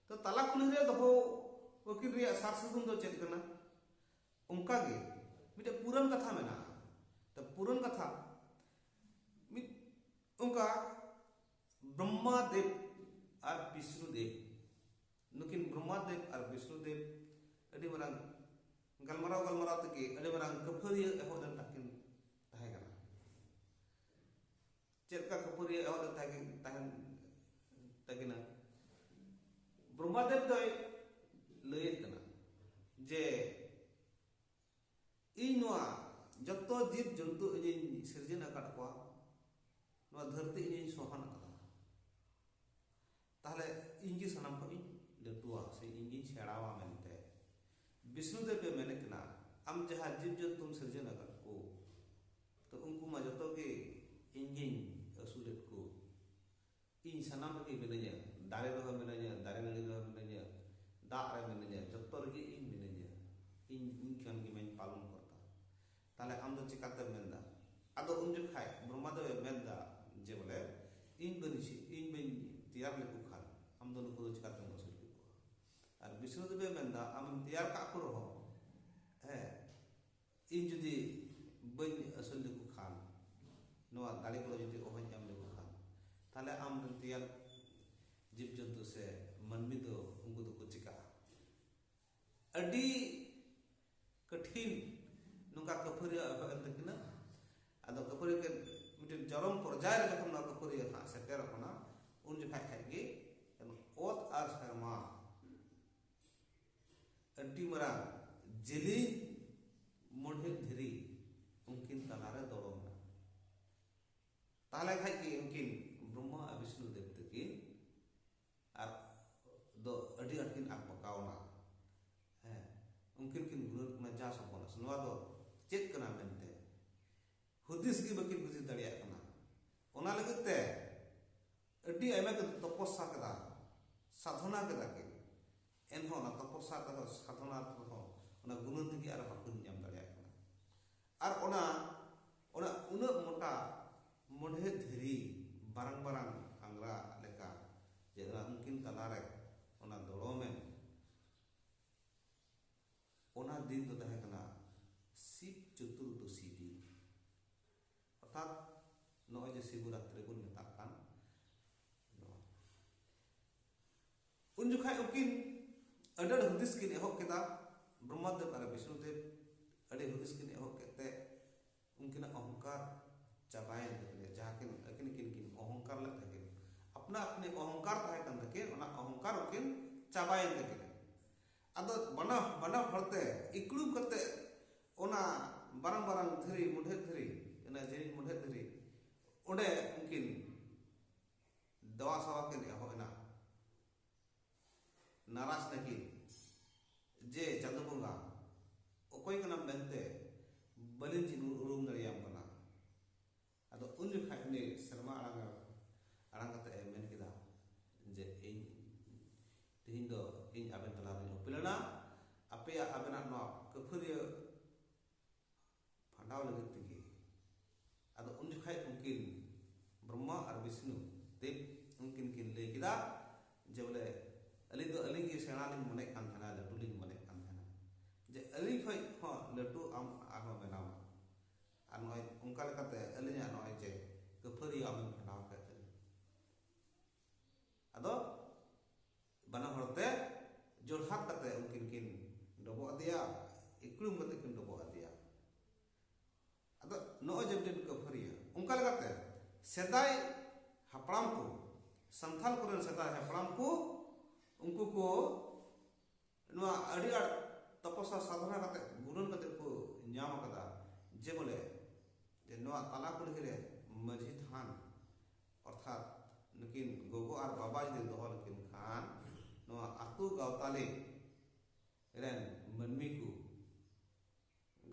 ᱛᱚ ᱛᱟᱞᱟ ᱠᱩᱞᱦᱤ ᱨᱮ ᱫᱚᱦᱚ ᱩᱱᱠᱤᱱ ᱨᱮᱭᱟᱜ ᱥᱟᱨ ᱥᱟᱹᱜᱩᱱ ᱫᱚ ᱪᱮᱫ ᱠᱟᱱᱟ ᱚᱱᱠᱟ ᱜᱮ ᱢᱤᱫᱴᱮᱱ ᱯᱩᱨᱟᱹᱱ ᱠᱟᱛᱷᱟ ᱢᱮᱱᱟᱜᱼᱟ ᱛᱚ ᱯᱩᱨᱟᱹᱱ ᱠᱟᱛᱷᱟ ᱢᱤᱫ ᱚᱱᱠᱟ ᱵᱨᱚᱦᱢᱟ ᱫᱮᱵ ᱟᱨ ᱵᱤᱥᱱᱩ ᱫᱮᱵ ᱱᱩᱠᱤᱱ ᱵᱨᱚᱦᱢᱟ ᱫᱮᱵ ᱟᱨ ᱵᱤᱥᱱᱩ ᱫᱮᱵ ᱟᱹᱰᱤ ᱢᱟᱨᱟᱝ ᱜᱟᱞᱢᱟᱨᱟᱣ ᱜᱟᱞᱢᱟᱨᱟᱣ ᱛᱮᱜᱮ ᱟᱹᱰᱤ ᱢᱟᱨᱟᱝ ᱠᱟᱹᱯᱷᱟᱹᱨᱤᱭᱟᱹ ᱮᱦᱚᱵ ᱞᱮᱱ ᱛᱟᱹᱠᱤᱱ ᱛᱟᱦᱮᱸ ᱠᱟᱱᱟ ᱪᱮᱫ ᱞᱮᱠᱟ ᱠᱟᱹᱯᱷᱟᱹᱨᱤᱭᱟᱹ ᱮᱦᱚᱵ ᱞᱮᱱ ᱛᱟᱦᱮᱸ ᱛᱟᱦᱮᱸ ᱛᱟᱹᱠᱤᱱᱟ ᱵᱨᱚᱦᱢᱟᱫᱮᱵ ᱫᱚᱭ ᱞᱟᱹᱭᱮᱫ ᱠᱟᱱᱟ ᱡᱮ ᱤᱧ ᱱᱚᱣᱟ ᱡᱚᱛᱚ ᱡᱤᱵᱽ ᱡᱚᱱᱛᱩ ᱤᱧᱤᱧ ᱥᱤᱨᱡᱚᱱ ᱟᱠᱟᱫ ᱠᱚᱣᱟ ᱱᱚᱣᱟ ᱫᱷᱟᱹᱨᱛᱤ ᱤᱧᱤᱧ ᱥᱚᱦᱟᱱ ᱟᱠᱟᱫᱟ ᱛᱟᱦᱞᱮ ᱤᱧ ᱜᱮ ᱥᱟᱱᱟᱢ ᱠᱷᱚᱱ ᱤᱧ ᱞᱟᱹᱴᱩᱣᱟ ᱥᱮ ᱤᱧ ᱜᱤᱧ ᱥᱮᱬᱟᱣᱟ ᱢᱮᱱᱛᱮ ᱵᱤᱥᱱᱩᱫᱮᱵ ᱮ ᱢᱮᱱᱮᱫ ᱠᱟᱱᱟ ᱟᱢ ᱡᱟᱦᱟᱸ ᱡᱤᱵᱽ ᱡᱚᱱᱛᱩᱢ ᱥᱤᱨᱡᱚᱱ ᱟᱠᱟᱫ ᱠᱚ ᱛᱚ ᱩᱱᱠᱩ ᱢᱟ ᱡᱚᱛᱚ ᱜᱮ ᱤᱧ ᱜᱤᱧ ᱟᱹᱥᱩᱞᱮᱫ ᱠᱚ ᱤᱧ ᱥᱟᱱᱟᱢ ᱨᱮᱜᱮ ᱢᱤᱱᱟᱹᱧᱟ ᱫᱟᱨᱮ ᱨᱮᱦᱚᱸ ᱢᱤᱱᱟᱹᱧᱟ ᱫᱟᱨᱮ ᱱᱟᱹᱲᱤ ᱨᱮᱦᱚᱸ ᱢᱤᱱᱟᱹᱧᱟ ᱫᱟᱜ ᱨᱮ ᱢᱤᱱᱟᱹᱧᱟ ᱡᱚᱛᱚ ᱨᱮᱜᱮ ᱤᱧ ᱢᱤᱱᱟᱹᱧᱟ ᱤᱧ ᱤᱧ ᱠᱷᱟᱱ ᱜᱮ ᱢᱟᱧ ᱯᱟᱞᱚᱱ ᱠᱚᱨᱛᱟ ᱛᱟᱦᱞᱮ ᱟᱢ ᱫᱚ ᱪᱮᱠᱟᱛᱮᱢ ᱢᱮᱱᱫᱟ ᱟᱫᱚ ᱩᱱ ᱡᱚᱠᱷᱟᱡ ᱵᱨᱚᱦᱢᱟᱫᱮᱵ ᱮ ᱢᱮᱱᱫᱟ ᱡᱮ ᱵᱚᱞᱮ ᱤᱧ ᱵᱟᱹᱧ ᱤᱧ ᱵᱟᱹᱧ ᱛᱮᱭᱟᱨ ᱞᱮᱠᱚ ᱠᱷᱟᱱ ᱟᱢ ᱫᱚ ᱱᱩᱠᱩ ᱫᱚ ᱪᱮᱠᱟᱛᱮᱢ ᱟᱹᱥᱩᱞ ᱠᱮᱠᱚᱣᱟ ᱟᱨ ᱵᱤᱥᱱᱩᱫᱮᱵ ᱮ ᱢᱮᱱᱫᱟ ᱟᱢᱮᱢ ᱛᱮᱭᱟᱨ ᱠᱟᱜ ᱠᱚ ᱨᱮᱦᱚᱸ ᱦᱮᱸ ᱤᱧ ᱡᱩᱫᱤ ᱵᱟᱹᱧ ᱟᱹᱥᱩᱞ ᱞᱮᱠᱚ ᱠᱷᱟᱱ ᱱᱚᱣᱟ ᱫᱟᱲᱮ ᱠᱚ ᱡᱩᱫᱤ ᱚᱦᱚᱧ ᱮᱢ ᱞᱮᱠᱚ ᱠᱷᱟᱱ ᱛᱟᱦᱞᱮ ᱟᱢ ᱨᱮᱱ ᱛᱮᱭᱟᱨ ᱡᱤᱵᱽ ᱡᱚᱱᱛᱩ ᱥᱮ ᱢᱟᱹᱱᱢᱤ ᱫᱚ ᱩᱱᱠᱩ ᱫᱚᱠᱚ ᱪᱮᱠᱟᱜᱼᱟ ᱟᱹᱰᱤ ᱠᱚᱴᱷᱤᱱ ᱱᱚᱝᱠᱟ ᱠᱟᱹᱯᱷᱟᱹᱨᱤ ᱮᱦᱚᱵ ᱮᱱ ᱛᱟᱹᱠᱤᱱᱟ ᱟᱫᱚ ᱠᱟᱹᱯᱷᱟᱹᱨᱤ ᱠᱤᱱ ᱢᱤᱫᱴᱮᱱ ᱡᱚᱨᱚᱢ ᱯᱚᱨᱡᱟᱭ ᱨᱮ ᱡᱚᱠᱷᱚᱱ ᱱᱚᱣᱟ ᱠᱟᱹᱯᱷᱟᱹᱨᱤ ᱦᱟᱸᱜ ᱥᱮᱴᱮᱨ ᱟᱠᱟᱱᱟ ᱩᱱ ᱡᱚᱠᱷᱟᱡ ᱠᱷᱟᱡ ᱜᱮ ᱚᱛ ᱟᱨ ᱥᱮᱨᱢᱟ ᱟᱹᱰᱤ ᱢᱟᱨᱟᱝ ᱡᱮᱞᱮᱧ ᱢᱚᱬᱦᱮᱫ ᱫᱷᱤᱨᱤ ᱩᱱᱠᱤᱱ ᱛᱟᱞᱟᱨᱮ ᱫᱚᱲᱚᱢᱮᱱᱟ ᱛᱟᱦᱚᱞᱮ ᱠᱷᱟᱡ ᱜᱮ ᱩᱱᱠᱤᱱ ᱵᱨᱚᱦᱢᱟ ᱟᱨ ᱵᱤᱥᱱᱩ ᱫᱮᱵ ᱛᱟᱹᱠᱤᱱ ᱟᱨ ᱫᱚ ᱟᱹᱰᱤ ᱟᱸᱴ ᱠᱤᱱ ᱟᱠᱵᱟᱠᱟᱣᱱᱟ ᱦᱮᱸ ᱩᱱᱠᱤᱱ ᱠᱤᱱ ᱜᱩᱱᱟᱹᱱ ᱠᱟᱱᱟ ᱡᱟ ᱥᱚᱯᱚᱱᱟᱥ ᱱᱚᱣᱟ ᱫᱚ ᱪᱮᱫ ᱠᱟᱱᱟ ᱢᱮᱱᱛᱮ ᱦᱩᱫᱤᱥ ᱜᱮ ᱵᱟᱹᱠᱤᱱ ᱦᱩᱫᱤᱥ ᱫᱟᱲᱮᱭᱟᱜ ᱠᱟᱱᱟ ᱚᱱᱟ ᱞᱟᱹᱜᱤᱫ ᱛᱮ ᱟᱹᱰᱤ ᱟᱭᱢᱟ ᱠᱤᱱ ᱛᱚᱯᱚᱥᱟ ᱠᱮᱫᱟ ᱥᱟᱫᱷᱚᱱᱟ ᱠᱮᱫᱟ ᱠᱤᱱ ᱮᱱᱦᱚᱸ ᱚᱱᱟ ᱛᱚᱯᱚᱥᱟ ᱠᱟᱛᱮ ᱥᱟᱫᱷᱚᱱᱟ ᱨᱮᱦᱚᱸ ᱚᱱᱟ ᱜᱩᱱᱟᱹᱱ ᱛᱮᱜᱮ ᱟᱨ ᱵᱟᱹᱠᱤᱱ ᱧᱟᱢ ᱫᱟᱲᱮᱭᱟᱜ ᱠᱟᱱᱟ ᱟᱨ ᱚᱱᱟ ᱚᱱᱟ ᱩᱱᱟᱹᱜ ᱢᱚᱴᱟ ᱢᱚᱰᱷᱮ ᱫᱷᱤᱨᱤ ᱵᱟᱨᱟᱝ ᱵᱟᱨᱟᱝ ᱟᱝᱜᱽᱨᱟ ᱞᱮᱠᱟ ᱡᱮ ᱚᱱᱟ ᱩᱱᱠᱤᱱ ᱛᱟᱞᱟᱨᱮ ᱚᱱᱟ ᱫᱚᱲᱚᱢᱮᱱ ᱚᱱᱟ ᱫᱤᱱ ᱫᱚ ᱛᱟᱦᱮᱸ ᱠᱟᱱᱟ ᱥᱤᱵ ᱪᱚᱛᱩᱨᱫᱚᱥᱤ ᱫᱤᱱ ᱚᱨᱛᱷᱟᱛ ᱱᱚᱜᱼᱚᱭ ᱡᱮ ᱥᱤᱵᱚᱨᱟᱛᱨᱤ ᱵᱚᱱ ᱢᱮᱛᱟᱜ ᱠᱟᱱ ᱩᱱ ᱡᱚᱠᱷᱟᱡ ᱩᱱᱠᱤᱱ ᱟᱹᱰᱤ ᱟᱹᱰᱤ ᱦᱩᱫᱤᱥ ᱠᱤᱱ ᱮᱦᱚᱵ ᱠᱮᱫᱟ ᱵᱨᱚᱦᱢᱟᱫᱮᱵ ᱟᱨ ᱵᱤᱥᱱᱩᱫᱮᱵ ᱟᱹᱰᱤ ᱦᱩᱫᱤᱥ ᱠᱤᱱ ᱮᱦᱚᱵ ᱠᱮᱫ ᱛᱮ ᱩᱱᱠᱤᱱᱟᱜ ᱚᱦᱚᱝᱠᱟᱨ ᱪᱟᱵᱟᱭᱮᱱ ᱛᱟᱹᱠᱤᱱᱟ ᱡᱟᱦᱟᱸ ᱠᱤᱱ ᱟᱹᱠᱤᱱ ᱠᱤᱱ ᱠᱤᱱ ᱚᱦᱚᱝᱠᱟᱨ ᱞᱮᱫ ᱛᱟᱹᱠᱤᱱ ᱟᱯᱱᱟ ᱟᱯᱱᱤ ᱚᱦᱚᱝᱠᱟᱨ ᱛᱟᱦᱮᱸ ᱠᱟᱱ ᱛᱟᱹᱠᱤᱱ ᱚᱱᱟ ᱚᱦᱚᱝᱠᱟᱨ ᱩᱱᱠᱤᱱ ᱪᱟᱵᱟᱭᱮᱱ ᱛᱟᱹᱠᱤᱱᱟ ᱟᱫᱚ ᱵᱟᱱᱟ ᱵᱟᱱᱟ ᱦᱚᱲᱛᱮ ᱤᱠᱲᱩ ᱠᱟᱛᱮ ᱚᱱᱟ ᱵᱟᱨᱟᱝ ᱵᱟᱨᱟᱝ ᱫᱷᱤᱨᱤ ᱢᱩᱰᱷᱮᱫ ᱫᱷᱤᱨᱤ ᱚᱱᱟ ᱡᱤᱨᱤᱧ ᱢᱩᱰᱷᱮᱫ ᱫᱷᱤᱨᱤ ᱚᱸᱰᱮ ᱩᱱᱠᱤᱱ ᱫᱮᱣᱟ ᱥᱟᱣᱟ ᱠᱤᱱ ᱮᱦᱚᱵ ᱮᱱᱟ ᱱᱟᱨᱟᱡᱽ ᱱᱟᱹᱠᱤᱱ ᱡᱮ ᱪᱟᱸᱫᱚ ᱵᱚᱸᱜᱟ ᱚᱠᱚᱭ ᱠᱟᱱᱟᱢ ᱢᱮᱱᱛᱮ ᱵᱟᱹᱞᱤᱧ ᱪᱤᱱᱩ ᱩᱨᱩᱢ ᱫᱟᱲᱮᱭᱟᱢ ᱠᱟᱱᱟ ᱟᱫᱚ ᱩᱱ ᱡᱚᱠᱷᱟᱡ ᱩᱱᱤ ᱥᱮᱨᱢᱟ ᱟᱲᱟᱝ ᱟᱲᱟᱝ ᱠᱟᱛᱮ ᱮ ᱢᱮᱱ ᱠᱮᱫᱟ ᱡᱮ ᱤᱧ ᱛᱮᱦᱮᱧ ᱫᱚ ᱤᱧ ᱟᱵᱮᱱ ᱛᱟᱞᱟ ᱨᱤᱧ ᱩᱯᱮᱞ ᱮᱱᱟ ᱟᱯᱮᱭᱟᱜ ᱟᱵᱮᱱᱟᱜ ᱱᱚᱣᱟ ᱠᱟᱹᱯᱷᱟᱹᱨᱤᱭᱟᱹ ᱯᱷᱟᱸᱰᱟᱣ ᱞᱟᱹᱜᱤᱫ ᱛᱮᱜᱮ ᱟᱫᱚ ᱩᱱ ᱡᱚᱠᱷᱟᱡ ᱩᱱᱠᱤᱱ ᱵᱨᱚᱦᱢᱟ ᱟᱨ ᱵᱤᱥᱱᱩ ᱫᱮᱵ ᱩᱱᱠᱤᱱ ᱠᱤᱱ ᱞᱟᱹᱭ ᱠᱮᱫᱟ ᱡᱮ ᱵᱚᱞᱮ ᱟᱹᱞᱤᱧ ᱫᱚ ᱟᱹᱞᱤᱧ ᱜᱮ ᱥᱮᱬᱟ ᱞᱤᱧ ᱢᱚᱱᱮᱜ ᱠᱟᱱ ᱛᱟᱦᱮᱱᱟ ᱞᱟᱹᱴᱩ ᱞᱤᱧ ᱢᱚᱱᱮᱜ ᱠᱟᱱ ᱛᱟᱦᱮᱱᱟ ᱡᱮ ᱟᱹᱞᱤᱧ ᱠᱷᱚᱡ ᱦᱚᱸ ᱞᱟᱹᱴᱩ ᱟᱢ ᱟᱨᱦᱚᱸ ᱵᱮᱱᱟᱣ ᱟᱨ ᱱᱚᱜᱼᱚᱭ ᱚᱱᱠᱟ ᱞᱮᱠᱟᱛᱮ ᱟᱹᱞᱤᱧᱟᱜ ᱱᱚᱜᱼᱚᱭ ᱡᱮ ᱠᱟᱹᱯᱷᱟᱹᱨᱤ ᱟᱢᱮᱢ ᱯᱷᱟᱸᱰᱟᱣ ᱠᱮᱫ ᱛᱟᱹᱞᱤᱧ ᱟᱫᱚ ᱵᱟᱱᱟ ᱦᱚᱲ ᱛᱮ ᱡᱚᱲᱦᱟᱛ ᱠᱟᱛᱮ ᱩᱱᱠᱤᱱ ᱠᱤᱱ ᱰᱚᱵᱚᱜ ᱟᱫᱮᱭᱟ ᱤᱠᱲᱩᱢ ᱠᱟᱛᱮ ᱠᱤᱱ ᱰᱚᱵᱚᱜ ᱟᱫᱮᱭᱟ ᱟᱫᱚ ᱱᱚᱜᱼᱚᱭ ᱡᱮ ᱢᱤᱫᱴᱮᱱ ᱠᱟᱹᱯᱷᱟᱹᱨᱤᱭᱟᱹ ᱚᱱᱠᱟ ᱞᱮᱠᱟᱛᱮ ᱥᱮᱫᱟᱭ ᱦᱟᱯᱲᱟᱢ ᱠᱚ ᱥᱟᱱᱛᱟᱞ ᱠᱚᱨᱮᱱ ᱥᱮᱫᱟᱭ ᱦᱟᱯᱲᱟᱢ ᱠᱚ ᱩᱱᱠᱩ ᱠᱚ ᱱᱚᱣᱟ ᱟᱹᱰᱤ ᱟᱸᱴ ᱛᱚᱯᱚᱥᱟ ᱥᱟᱫᱷᱚᱱᱟ ᱠᱟᱛᱮ ᱜᱩᱱᱟᱹᱱ ᱠᱟᱛᱮ ᱠᱚ ᱧᱟᱢ ᱟᱠᱟᱫᱟ ᱡᱮ ᱵᱚᱞᱮ ᱡᱮ ᱱᱚᱣᱟ ᱛᱟᱞᱟ ᱠᱩᱞᱦᱤ ᱨᱮ ᱢᱟᱹᱡᱷᱤ ᱛᱷᱟᱱ ᱚᱨᱛᱷᱟᱛ ᱱᱩᱠᱤᱱ ᱜᱚᱜᱚ ᱟᱨ ᱵᱟᱵᱟ ᱡᱩᱫᱤ ᱫᱚᱦᱚ ᱞᱮᱠᱤᱱ ᱠᱷᱟᱱ ᱱᱚᱣᱟ ᱟᱛᱳ ᱜᱟᱶᱛᱟᱞᱤ ᱨᱮᱱ ᱢᱟᱹᱱᱢᱤ ᱠᱚ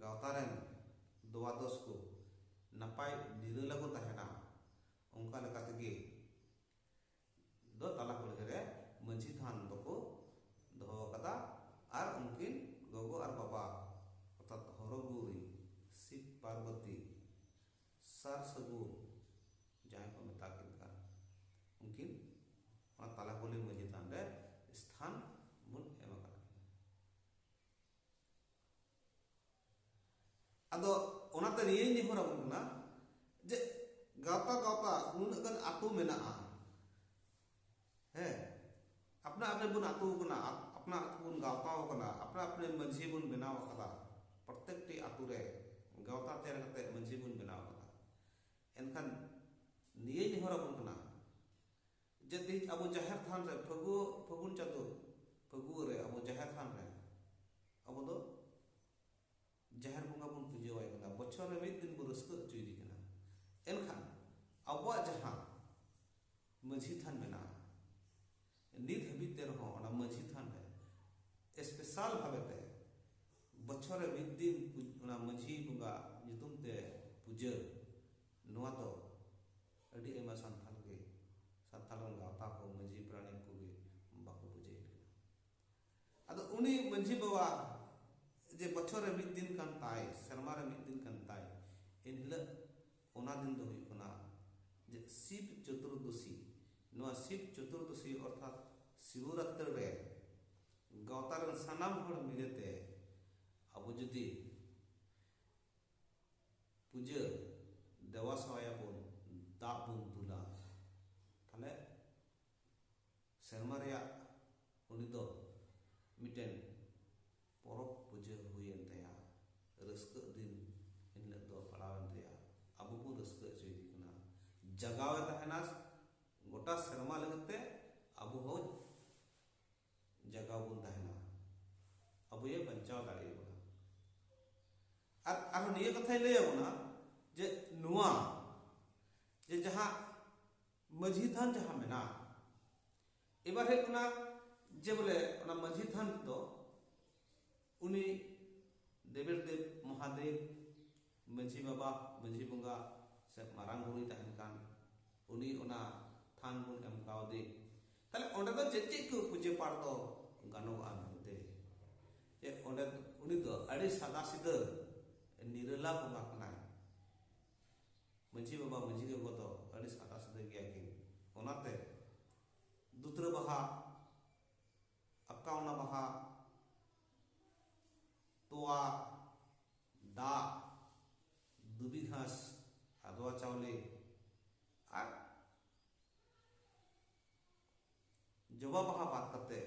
ᱜᱟᱶᱛᱟ ᱨᱮᱱ ᱫᱚᱣᱟᱫᱚᱥ ᱠᱚ ᱱᱟᱯᱟᱭ ᱱᱤᱨᱟᱹᱞᱟ ᱠᱚ ᱛᱟᱦᱮᱱᱟ ᱚᱱᱠᱟ ᱞᱮᱠᱟ ᱛᱮᱜᱮ ᱫᱚ ᱛᱟᱞᱟ ᱠᱩᱞᱦᱤ ᱨᱮ ᱢᱟᱹᱡᱷᱤ ᱛᱷᱟᱱ ᱫᱚᱠᱚ ᱫᱚᱦᱚ ᱟᱠᱟᱫᱟ ᱟᱨ ᱩᱱᱠᱤᱱ ᱜᱚᱜᱚ ᱟᱨ ᱵᱟᱵᱟ ᱚᱨᱛᱷᱟᱛ ᱦᱚᱨᱚᱜᱩᱨᱤ ᱥᱤᱵ ᱯᱟᱨᱵᱚᱛᱤ ᱥᱟᱨ ᱥᱟᱹᱜᱩᱱ ᱡᱟᱦᱟᱸᱭ ᱠᱚ ᱢᱮᱛᱟ ᱠᱤᱱ ᱠᱟᱱ ᱩᱱᱠᱤᱱ ᱚᱱᱟ ᱛᱟᱞᱟ ᱠᱩᱞᱦᱤ ᱢᱟᱺᱡᱷᱤ ᱛᱷᱟᱱ ᱨᱮ ᱥᱛᱷᱟᱱ ᱵᱚᱱ ᱮᱢ ᱟᱠᱟᱫ ᱠᱤᱱᱟ ᱟᱫᱚ ᱚᱱᱟᱛᱮ ᱱᱤᱭᱟᱹᱧ ᱱᱮᱦᱚᱨ ᱟᱵᱚᱱ ᱠᱟᱱᱟ ᱡᱮ ᱜᱟᱶᱛᱟ ᱜᱟᱶᱛᱟ ᱱᱩᱱᱟᱹᱜ ᱜᱟᱱ ᱟᱛᱳ ᱢᱮᱱᱟᱜᱼᱟ ᱦᱮᱸ ᱟᱯᱱᱟ ᱟᱯᱱᱮ ᱵᱚᱱ ᱟᱛᱩ ᱠᱟᱱᱟ ᱟᱯᱱᱟ ᱟᱛᱩ ᱵᱚᱱ ᱜᱟᱶᱛᱟ ᱠᱟᱱᱟ ᱟᱯᱱᱟ ᱟᱯᱱᱮ ᱢᱟᱹᱡᱷᱤ ᱵᱚᱱ ᱵᱮᱱᱟᱣ ᱟᱠᱟᱫᱟ ᱯᱨᱚᱛᱮᱠᱴᱤ ᱟᱛᱩ ᱨᱮ ᱜᱟᱶᱛᱟ ᱛᱮᱭᱟᱨ ᱠᱟᱛᱮ ᱢᱟᱹᱡᱷᱤ ᱵᱚᱱ ᱵᱮᱱᱟᱣ ᱟᱠᱟᱫᱟ ᱮᱱᱠᱷᱟᱱ ᱱᱤᱭᱟᱹ ᱱᱮᱦᱚᱨ ᱟᱵᱚᱱ ᱠᱟᱱᱟ ᱡᱮ ᱛᱮᱦᱮᱧ ᱟᱵᱚ ᱡᱟᱦᱮᱨ ᱛᱷᱟᱱ ᱨᱮ ᱯᱷᱟᱹᱜᱩ ᱯᱷᱟᱹᱜᱩᱱ ᱪᱟᱸᱫᱳ ᱯᱷᱟᱹᱜᱩ ᱨᱮ ᱟᱵᱚ ᱡᱟᱦᱮᱨ ᱛᱷᱟᱱ ᱨᱮ ᱟᱵᱚ ᱫᱚ ᱡᱟᱦᱮᱨ ᱵᱚᱸᱜᱟ ᱵᱚᱱ ᱯᱩᱡᱟᱹ ᱟᱭ ᱠᱟᱱᱟ ᱵᱚᱪᱷᱚᱨ ᱨᱮ ᱢᱤᱫ ᱫᱤᱱ ᱵᱚ ᱨᱟᱹᱥᱠᱟᱹ ᱦᱚᱪᱚᱭᱮᱫᱮ ᱠᱟᱱᱟ ᱮᱱᱠᱷᱟᱱ ᱟᱵᱚᱣᱟᱜ ᱡᱟᱦᱟᱸ ᱢᱟᱹᱡᱷᱤ ᱛᱷᱟᱱ ᱢᱮᱱᱟᱜᱼᱟ ᱱᱤᱛ ᱦᱟᱹᱵᱤᱡ ᱛᱮ ᱨᱮᱦᱚᱸ ᱚᱱᱟ ᱢᱟᱹᱡᱷᱤ ᱛᱷᱟᱱ ᱨᱮ ᱥᱯᱮᱥᱟᱞ ᱵᱷᱟᱵᱮ ᱛᱮ ᱵᱚᱪᱷᱚᱨ ᱨᱮ ᱢᱤᱫ ᱫᱤᱱ ᱚᱱᱟ ᱢᱟᱹᱡᱷᱤ ᱵᱚᱸᱜᱟ ᱧᱩᱛᱩᱢ ᱛᱮ ᱯᱩᱡᱟᱹ ᱱᱚᱣᱟ ᱫᱚ ᱟᱹᱰᱤ ᱟᱭᱢᱟ ᱥᱟᱱᱛᱟᱲ ᱜᱮ ᱥᱟᱱᱛᱟᱲ ᱜᱟᱶᱛᱟ ᱠᱚ ᱢᱟᱹᱡᱷᱤ ᱯᱟᱨᱟᱱᱤᱠ ᱠᱚᱜᱮ ᱵᱟᱠᱚ ᱯᱩᱡᱟᱹᱭᱮᱫ ᱠᱟᱱᱟ ᱟᱫᱚ ᱩᱱᱤ ᱢᱟᱹᱡᱷᱤ ᱵᱟᱵᱟ ᱡᱮ ᱵᱚᱪᱷᱚᱨ ᱨᱮ ᱢᱤᱫ ᱫᱤᱱ ᱠᱟᱱ ᱛᱟᱭ ᱥᱮᱨᱢᱟ ᱨᱮ ᱢᱤᱫ ᱫᱤᱱ ᱠᱟᱱ ᱛᱟᱭ ᱮᱱ ᱦᱤᱞᱳᱜ ᱚᱱᱟ ᱫᱤᱱ ᱫᱚ ᱦᱩᱭᱩᱜ ᱠᱟᱱᱟ ᱡᱮ ᱥᱤᱵ ᱪᱚᱛᱩᱨᱫᱚᱥᱤ ᱱᱚᱣᱟ ᱥᱤᱵ ᱪᱚᱛᱩᱨᱫᱚᱥᱤ ᱚᱨᱛᱷᱟᱛ ᱥᱤᱵᱚᱨᱟᱛᱨᱤ ᱨᱮ ᱜᱟᱶᱛᱟ ᱨᱮᱱ ᱥᱟᱱᱟᱢ ᱦᱚᱲ ᱢᱤᱞᱮᱛᱮ ᱟᱵᱚ ᱡᱩᱫᱤ ᱯᱩᱡᱟᱹ ᱫᱮᱣᱟ ᱥᱮᱣᱟᱭᱟᱵᱚᱱ ᱫᱟᱜ ᱵᱚᱱ ᱫᱩᱞᱟ ᱛᱟᱦᱞᱮ ᱥᱮᱨᱢᱟ ᱨᱮᱭᱟᱜ ᱩᱱᱤ ᱫᱚ ᱢᱤᱫᱴᱮᱱ ᱯᱚᱨᱚᱵᱽ ᱯᱩᱡᱟᱹ ᱦᱩᱭ ᱮᱱ ᱛᱟᱭᱟ ᱨᱟᱹᱥᱠᱟᱹᱜ ᱫᱤᱱ ᱮᱱ ᱦᱤᱞᱳᱜ ᱫᱚ ᱯᱟᱲᱟᱣ ᱮᱱ ᱛᱟᱭᱟ ᱟᱵᱚ ᱵᱚᱱ ᱨᱟᱹᱥᱠᱟᱹ ᱦᱚᱪᱚᱭᱮᱫᱮ ᱠᱟᱱᱟ ᱡᱟᱜᱟᱣᱮ ᱛᱟᱦᱮᱱᱟ ᱜᱚᱴᱟ ᱥᱮᱨᱢᱟ ᱞᱟᱹᱜᱤᱫ ᱛᱮ ᱟᱵᱚ ᱦᱚᱸ ᱡᱟᱜᱟᱣ ᱵᱚᱱ ᱛᱟᱦᱮᱱᱟ ᱟᱵᱚᱭᱮ ᱵᱟᱧᱪᱟᱣ ᱫᱟᱲᱮᱭᱟᱵᱚᱱᱟ ᱟᱨ ᱟᱨᱦᱚᱸ ᱱᱤᱭᱟᱹ ᱠᱟᱛᱷᱟᱭ ᱞᱟᱹᱭᱟᱵᱚᱱᱟ ᱡᱮ ᱱᱚᱣᱟ ᱡᱮ ᱡᱟᱦᱟᱸ ᱢᱟᱹᱡᱷᱤ ᱛᱷᱟᱱ ᱡᱟᱦᱟᱸ ᱢᱮᱱᱟᱜᱼᱟ ᱮᱵᱟᱨ ᱦᱩᱭᱩᱜ ᱠᱟᱱᱟ ᱡᱮ ᱵᱚᱞᱮ ᱚᱱᱟ ᱢᱟᱹᱡᱷᱤ ᱛᱷᱟᱱ ᱫᱚ ᱩᱱᱤ ᱫᱮᱵᱮᱨ ᱫᱮᱵ ᱢᱚᱦᱟᱫᱮᱵ ᱢᱟᱹᱡᱷᱤ ᱵᱟᱵᱟ ᱢᱟᱹᱡᱷᱤ ᱵᱚᱸᱜᱟ ᱥᱮ ᱢᱟᱨᱟᱝ ᱵᱩᱨᱩᱭ ᱛᱟᱦᱮᱱ ᱠᱟᱱ ᱩᱱᱤ ᱚᱱᱟ ᱛᱷᱟᱱ ᱵᱚᱱ ᱮᱢ ᱠᱟᱣᱫᱮ ᱛᱟᱦᱞᱮ ᱚᱸᱰᱮ ᱫᱚ ᱪᱮᱫ ᱪᱮᱫ ᱠᱚ ᱯᱩᱡᱟᱹ ᱯᱟᱴ ᱫᱚ ᱜᱟᱱᱚᱜᱼᱟ ᱢᱮᱱᱛᱮ ᱡᱮ ᱚᱸᱰᱮ ᱩᱱᱤ ᱫᱚ ᱟᱹᱰᱤ ᱥᱟᱫᱟ ᱥᱤᱫᱟᱹ ᱱᱤᱨᱟᱹᱞᱟ ᱵᱚᱸᱜᱟ ᱠᱟᱱᱟᱭ ᱢᱟᱹᱡᱷᱤ ᱵᱟᱵᱟ ᱢᱟᱹᱡᱷᱤ ᱜᱚᱜᱚ ᱫᱚ ᱟᱹᱰᱤ ᱥᱟᱫᱟ ᱥᱤᱫᱟᱹ ᱜᱮᱭᱟ ᱠᱤᱱ ᱚᱱᱟᱛᱮ ᱫᱩᱛᱨᱟᱹ ᱵᱟᱦᱟ ᱟᱠᱟᱣᱱᱟ ᱵᱟᱦᱟ ᱛᱚᱣᱟ ᱫᱟᱜ ᱫᱩᱵᱤ ᱜᱷᱟᱥ ᱟᱫᱣᱟ ᱪᱟᱣᱞᱮ ᱟᱨ ᱡᱚᱵᱟ ᱵᱟᱦᱟ ᱵᱟᱫ ᱠᱟᱛᱮ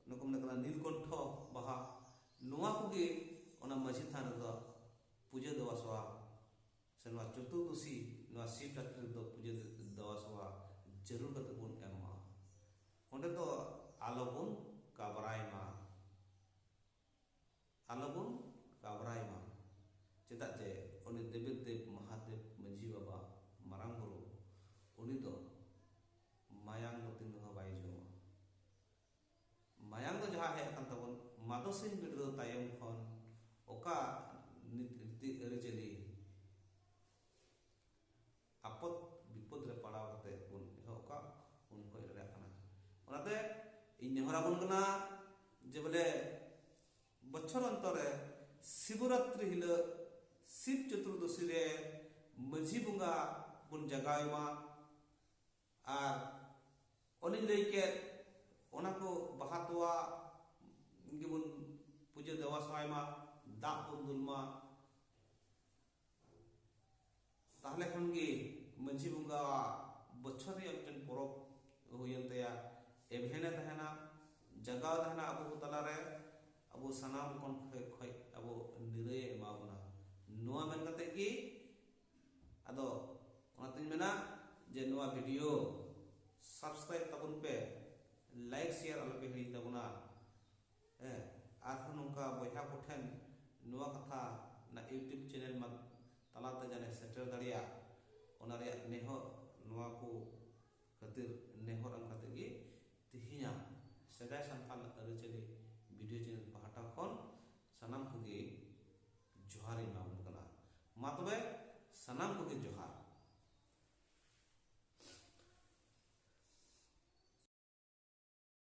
ᱱᱩᱠᱩ ᱢᱮᱱᱟᱜ ᱠᱟᱱᱟ ᱱᱤᱞᱠᱚᱱᱴᱷᱚ ᱵᱟᱦᱟ ᱱᱚᱣᱟ ᱠᱚᱜᱮ ᱚᱱᱟ ᱢᱟᱹᱡᱷᱤ ᱛᱷᱟᱱ ᱨᱮᱫᱚ ᱯᱩᱡᱟᱹ ᱫᱮᱣᱟ ᱥᱮᱵᱟ ᱥᱮ ᱱᱚᱣᱟ ᱪᱚᱛᱩᱨᱫᱚᱥᱤ ᱱᱚᱣᱟ ᱥᱤᱵ ᱨᱟᱛᱨᱤ ᱨᱮᱫᱚ ᱯᱩᱡᱟᱹ ᱫᱮᱣᱟ ᱥᱮᱵᱟ ᱡᱟᱹᱨᱩᱲ ᱠᱟᱛᱮ ᱵᱚᱱ ᱮᱢᱟ ᱚᱸᱰᱮ ᱫᱚ ᱟᱞᱚ ᱵᱚᱱ ᱠᱟᱵᱨᱟᱭ ᱢᱟ ᱟᱞᱚ ᱵᱚᱱ ᱠᱟᱵᱨᱟᱭ ᱢᱟ ᱪᱮᱫᱟᱜ ᱡᱮ ᱩᱱᱤ ᱫᱮᱵᱤ ᱫᱮᱵ ᱢᱚᱦᱟᱫᱮᱵ ᱢᱟᱹᱡᱷᱤ ᱵᱟᱵᱟ ᱢᱟᱨᱟᱝ ᱵᱩᱨᱩ ᱩᱱᱤ ᱫᱚ ᱢᱟᱭᱟᱝ ᱫᱚ ᱛᱤᱱ ᱨᱮᱦᱚᱸ ᱵᱟᱭ ᱡᱚᱢᱟ ᱢᱟᱭᱟᱝ ᱫᱚ ᱡᱟᱦᱟᱸ ᱦᱮᱡ ᱟᱠᱟᱱ ᱛᱟᱵᱚᱱ ᱢᱟᱫᱚ ᱥᱤᱧ ᱵᱤᱰᱨᱟᱹᱣ ᱛᱟᱭᱚᱢ ᱠᱷᱚᱱ ᱚᱠᱟ ᱱᱤᱛ ᱨᱤᱛᱤ ᱟᱹᱨᱤᱪᱟᱹᱞᱤ ᱟᱯᱚᱫ ᱵᱤᱯᱚᱫ ᱨᱮ ᱯᱟᱲᱟᱣ ᱠᱟᱛᱮ ᱵᱚᱱ ᱮᱦᱚᱵ ᱠᱟᱜ ᱩᱱ ᱠᱷᱚᱡ ᱞᱮ ᱠᱟᱱᱟ ᱚᱱᱟᱛᱮ ᱤᱧ ᱱᱮᱦᱚᱨ ᱟᱵᱚᱱ ᱠᱟᱱᱟ ᱡᱮ ᱵᱚᱞᱮ ᱵᱚᱪᱷᱚᱨ ᱚᱱᱛᱚᱨ ᱨᱮ ᱥᱤᱵᱚᱨᱟᱛᱨᱤ ᱦᱤᱞᱳᱜ ᱥᱤᱵ ᱪᱚᱛᱩᱨᱫᱚᱥᱤ ᱨᱮ ᱢᱟᱹᱡᱷᱤ ᱵᱚᱸᱜᱟ ᱵᱚᱱ ᱡᱟᱜᱟᱣ ᱮᱢᱟ ᱟᱨ ᱚᱱᱮᱧ ᱞᱟᱹᱭ ᱠᱮᱫ ᱚᱱᱟ ᱠᱚ ᱵᱟᱦᱟ ᱛᱚᱣᱟ ᱜᱮᱵᱚᱱ ᱯᱩᱡᱟᱹ ᱫᱮᱣᱟ ᱥᱟᱭ ᱢᱟ ᱫᱟᱜ ᱵᱚᱱ ᱫᱩᱞ ᱢᱟ ᱛᱟᱦᱞᱮ ᱠᱷᱟᱱ ᱜᱮ ᱢᱟᱹᱡᱷᱤ ᱵᱚᱸᱜᱟᱣᱟᱜ ᱵᱚᱪᱷᱚᱨ ᱨᱮᱭᱟᱜ ᱢᱤᱫᱴᱮᱱ ᱯᱚᱨᱚᱵᱽ ᱦᱩᱭᱮᱱ ᱛᱟᱭᱟ ᱮᱵᱷᱮᱱᱮ ᱛᱟᱦᱮᱱᱟ ᱡᱟᱜᱟᱣ ᱛᱟᱦᱮᱱᱟ ᱟᱵᱚ ᱠᱚ ᱛᱟᱞᱟᱨᱮ ᱟᱵᱚ ᱥᱟᱱᱟᱢ ᱠᱷᱚᱱ ᱠᱷᱚᱡ ᱟᱵᱚ ᱱᱤᱨᱟᱹᱭᱮ ᱮᱢᱟ ᱵᱚᱱᱟ ᱱᱚᱣᱟ ᱢᱮᱱ ᱠᱟᱛᱮ ᱜᱮ ᱟᱫᱚ ᱚᱱᱟᱛᱤᱧ ᱢᱮᱱᱟ ᱡᱮ ᱱᱚᱣᱟ ᱵᱷᱤᱰᱤᱭᱳ ᱥᱟᱵᱥᱠᱨᱟᱭᱤᱵ ᱛᱟᱵᱚᱱ ᱯᱮ ᱞᱟᱭᱤᱠ ᱥᱮᱭᱟᱨ ᱟᱞᱚᱯᱮ ᱦᱤᱲᱤᱧ ᱛᱟᱵᱚᱱᱟ ᱦᱮᱸ ᱟᱨᱦᱚᱸ ᱱᱚᱝᱠᱟ ᱵᱚᱭᱦᱟ ᱠᱚᱴᱷᱮᱱ ᱱᱚᱣᱟ ᱠᱟᱛᱷᱟ ᱚᱱᱟ ᱤᱭᱩᱴᱩᱵᱽ ᱪᱮᱱᱮᱞ ᱢᱟ ᱛᱟᱞᱟᱛᱮ ᱡᱟᱱᱮ ᱥᱮᱴᱮᱨ ᱫᱟᱲᱮᱭᱟᱜ ᱚᱱᱟ ᱨᱮᱭᱟᱜ ᱱᱮᱦᱚᱨ ᱱᱚᱣᱟ ᱠᱚ ᱠᱷᱟᱹᱛᱤᱨ ᱱᱮᱦᱚᱨ ᱮᱢ ᱠᱟᱛᱮ ᱜᱮ ᱛᱮᱦᱮᱧᱟᱜ ᱥᱮᱫᱟᱭ ᱥᱟᱱᱛᱟᱲ ᱟᱹᱨᱤᱪᱟᱹᱞᱤ ᱵᱷᱤᱰᱤᱭᱳ ᱪᱮᱱᱮᱞ ᱯᱟᱦᱴᱟ ᱠᱷᱚᱱ ᱥᱟᱱᱟᱢ ᱠᱚᱜᱮ ᱡᱚᱦᱟᱨ ᱤᱧ ᱮᱢᱟᱵᱚᱱ ᱠᱟᱱᱟ ᱢᱟ ᱛᱚᱵᱮ ᱥᱟᱱᱟᱢ ᱠᱚᱜᱮ ᱡᱚᱦᱟᱨ